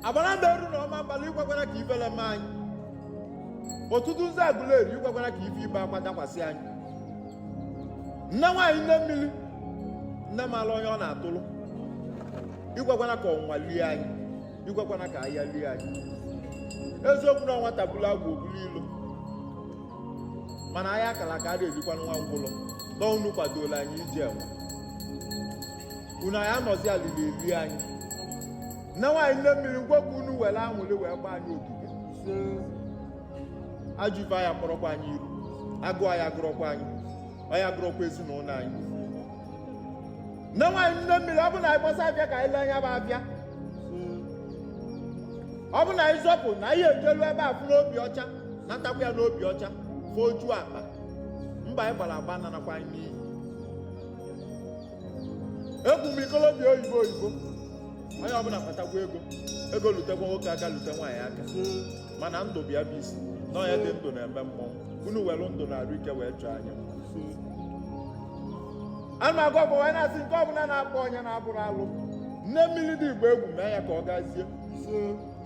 Agbanabo Ezu na Ọmambala i kwekwana ka ifele mee anyị ọtụtụ nzu Agụleri i kwekwana ka ife ibe akwa dakwasị anyị nne nwaanyị nne mmiri nne mara onye ọ na-atụrụ i kwekwana ka ọnwụnwa lie anyị i kwekwana ka aya lie anyị eziokwu na nwata bulu agwa o bulu ilo mana aya akara aka a na-erikwa nwa ngwụlọ na unu kwadola anyị iji enwe unu aya anọzi alịlị elie anyị nne nwaanyị nne mmiri ngwa ka unu were anwụlị wee gba anyị ogige ajọ ife aya akpọrọkwa anyị iru agụụ aya agụrọkwa anyị aya agụrọkwa ezinụlọ anyị nne nwaanyị nne mmiri ọ bụ na anyị gbasa afịa ka anyị lee nya bụ afịa ọ bụ na anyị zọpụ na anyị ejelu ebe a fụ n'obi ọcha natakwa ya n'obi ọcha foju akpa mbọ anyị gbara agba ananakwa anyị n'iyi egwu m ikolobịa oyibo oyibo onye ọbụla kpatakwa ego ego lutekwa nwoke aka lute nwaanyị aka mana ndụ bịa bụ isi na onye dị ndụ na-eme mmọnwụ unu were ndụ na arụ ike wee chọọ anyị a na-agwa ọgwa wee na-asị nke ọbụla na-akpa onye na-abụrọ alụ nne mmiri dị igbo egwu mee ya ka ọ gazie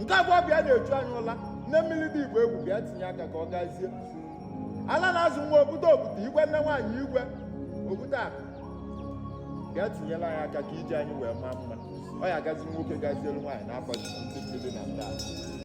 nke abụọ bịa na-echu anyị ụla nne mmiri dị igbo egwu bịa tinye aka ka ọ gazie ala na-azụ nwa okwute okwute igwe nne nwaanyị igwe okwute akụ bịa tinyela anyị aka ka ije anyị wee maa mma ọ ya-agaziri nwoke gazielu nwaanyị n'afa ndị mmiri na ndị ala